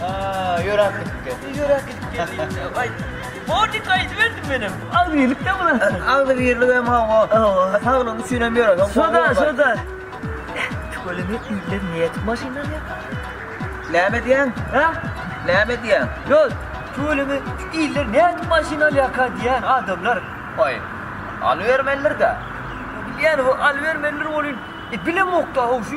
Aaa ýöräp gidip geldi. Ýöräp gidip geldi. Aý. Borjik aýdyberdim menem. Agzybirlikde bular. Agzybirlik hem hawa. Saglygyň üçin hem ýöräp. Soda, soda. Tüweleme iller näme edip maşyn alýarlar? Näme edýäň? Hä? Näme edýäň? Ýok. Tüweleme iller näme edip maşyn alýarka diýýän adamlar. Aý. Alybermelidir-dä. Bilýän, alybermelidir welin, bilemok-da, haw şu.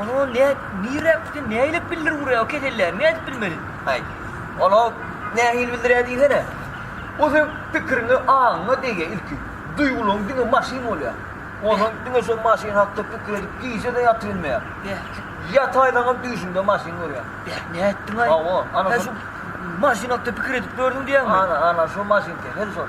Ony ol nä, nirä gitsin, näleip bildir urýar o keselleri, nädip bilmeli? Aý, ol-a nähili bildirýär diýsene. Ol seň pikiriňe, aňyňa degýär ilki. Duýgularyň diňe maşyn bolýar. Onsoň diňe şol maşyn hakda pikir edip gije-de ýatybilmeýär. Ýataýsaňam düýşüňde maşyn görýär. Beh, nätdiň-aý? Hawa, ana şo. Sen şu maşyn hakda pikir edip gördüň diýýäňmi? Ana, ana şo maşyn kesel şol.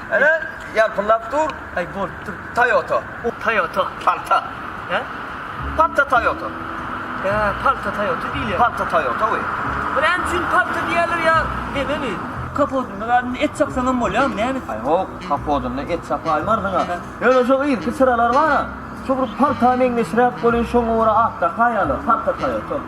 Ene, ýalpyldap dur. Aý, bolupdyr. Toyota. Toyota. Palta. Hä? Palta Toyota. Hä, palta Toyota diýilýär. Palta Toyota we. Bu näme üçin palta diýýärler ýa nebemi? Kapodynda zady et çapsaňam bolýarmy, näme? Aý, ýok, kapodynda et çapaýmarsyň-a. Ýöne şo irki çyralar bar-a, şo bir palta meňzeşräk bolýar, şoňa görä atdaky aýalar, palta Toyota.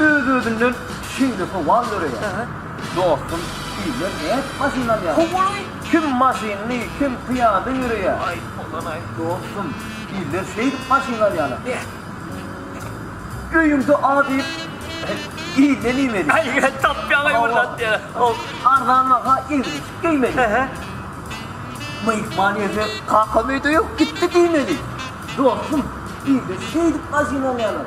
Öz-özünden şeýle sowal döreýär. Dostum, sizler nädip maşyn alýarsyňyz? Kim maşynly, kim pyýada ýöreýär. Dostum, sizler şeýdip maşyn alýarlar. Öýüňde A diýip, iýmä diýmeli. Arzan baha egri-eşik geýmeli. Myhman gelse, kakam öýde ýok, gitdi diýmeli. Dostum, sizler şeýdip maşyn alýarlar.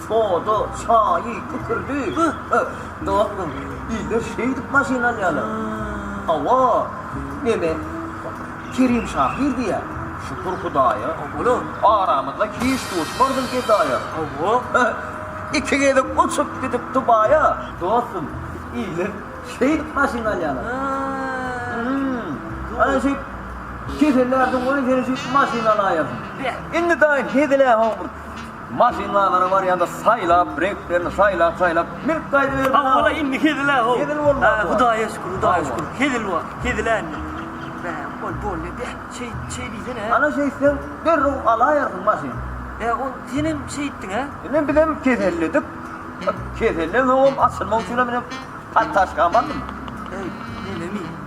Soda, çaýy, kükürdi. Dostum, bizde şeýdip maşyn alýarlar. Hawa, neme, Kerim şahyr diýýär. Şükür Hudaýa, oglum, aramyzda hiç duşmandym gedaýa. Hawa, iki gezek uçup gidip Dubaýa. Dostum, bizde şeýdip maşyn alýarlar. Hum, ana şeýdip, kesellärsiň, goý, seni şeýdip maşyn alaýasyn. Indi daýy, hezil-ä, hawa, bir Maşynlalara barýanda saýlap, reňklerini saýlap-saýlap münüp gaýdyberdi. Hawa-la, indi hezil-ä ol. Hezil boldy. Hä, Hudaýa şükür, Hudaýa şükür. Hezil wah, hezil-ä indi. Bä, bol, bol, ne, beh, şeý, şeý diýsene-e. Ana şeýtseň, derrew alaýarsyň maşyn. Bä, ol senem şeýtdiň-ä. Ine, bizem keselledik. Keselleň soňam açylmak üçinem ine, partaşka bardym. Äý, melemi?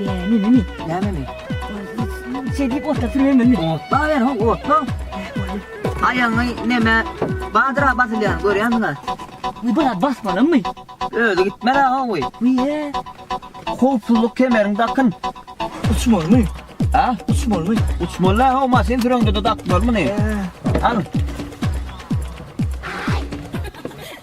Näme? Näme? Şeýdip otda süremeli. Otda ber, ho, otda. Aýaňy näme? Badyra basylýan, görýäňmi? Bu bala basmalymy? Özi gitmeli ha oý. Niýe? Howpsuzlyk kemerini dakyn. Uçmalymy? Ha? Uçmalymy? Uçmaly ha, maşyn süreňde de dakmalymy? Al.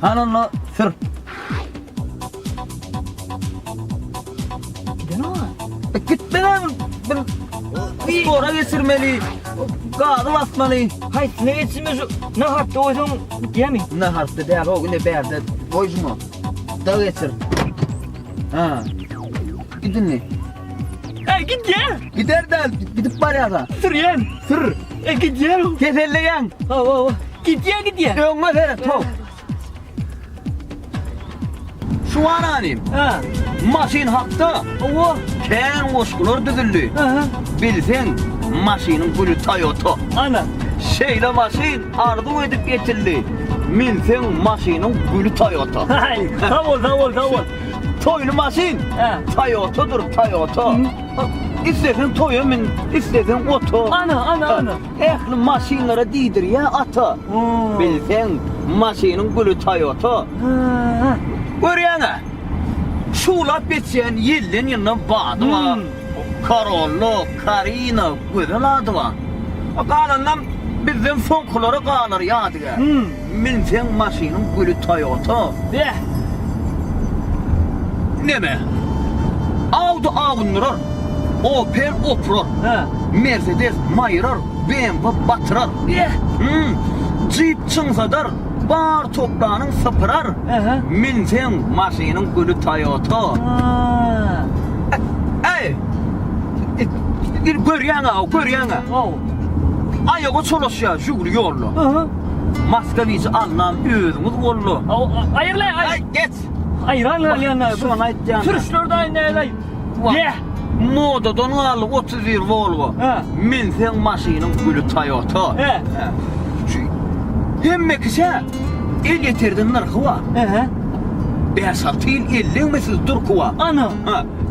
Hany onda sür. E, Gitmeli abi. Bir spora geçirmeli. Gazı basmaly. Hay ne geçme şu ne hatta oysan yemi. Ne harfta değer o güne berde. Koyma. Da geçir. Ha. Gidin mi? Ey gidýär. Gider de gidip barýar-a. Sürýän. Sür. E gidýär. Keselleýän. Hawa hawa. Gidýär gidýär. Öňe seret ho. Şu aranym. Ha. Maşyn hakda. Hawa. Kän goşgular düzüldi. Aha. Bilseň, maşynyň güli Toyota. Ana. Şeýle maşyn arzuw edip getirdi. Minseň maşynyň güli Toyota. Haý, sag bol, sag bol, sag bol. Toýly maşyn. Toyotadyr, Toyota. Isleseň toýa min, isleseň ota. Ana, ana, ana. Ähli maşynlara diýdirýär ata. Bilseň, maşynyň güli Toyota. Görýäň-ä, şuwlap geçýän ýelden ýyldan bady bar. Karollo, Karina, gözel ady bar. Galanynam bizden soňkulara galar ýadygär. Münseň maşynyň güli Toyota. Beh! Neme? Audi awundyrar, Opel opurar, Mercedes maýyrar, BMW batyrar. Beh! Jeep çyňsadar. Bar toplanyň sypyrar Münseň maşynyň güli Toyota Äý Indi görýäňä görýäňä Aýaga çolaşýar Žugli ýolda Moskowiji alnan özüňiz boldy Aýyrlaý aý Aý geç Aýran galýan Şony aýtýan Türkler daýy näleý. Wah! Modadan galdy otuz bir Volvo. Minseň maşynyň güli Toyota. Şu hemmekişä elýeterden nyrhy bar. Bäş-alty ýyl elleňmesiz durky bar. Ana!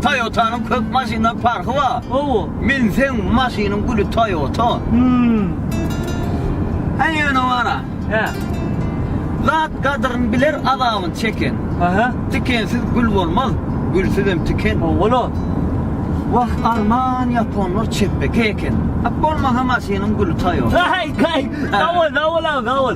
Toyotanyň köp maşyndan parhy bar. Hawa. Minseň maşynyň güli Toyota. Häý, ýöne bar-a. Hä. Zat gadyryn biler azabyn çeken. Hä. Tikensiz gül bolmaz, gülsüzem tiken. Owala. Wah arman ýaponlar çepbeke eken. Ak bolmasa maşynyň güli taýok. Haý haý. Sag bol sag bol abi sag bol.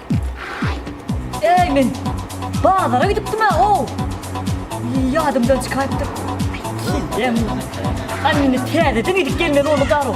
Eý men bazara gidipdim-ä ow. Ýadymdan çykaýypdyr. Kildem. Hany indi täzeden gidip gelmeli boldy garow.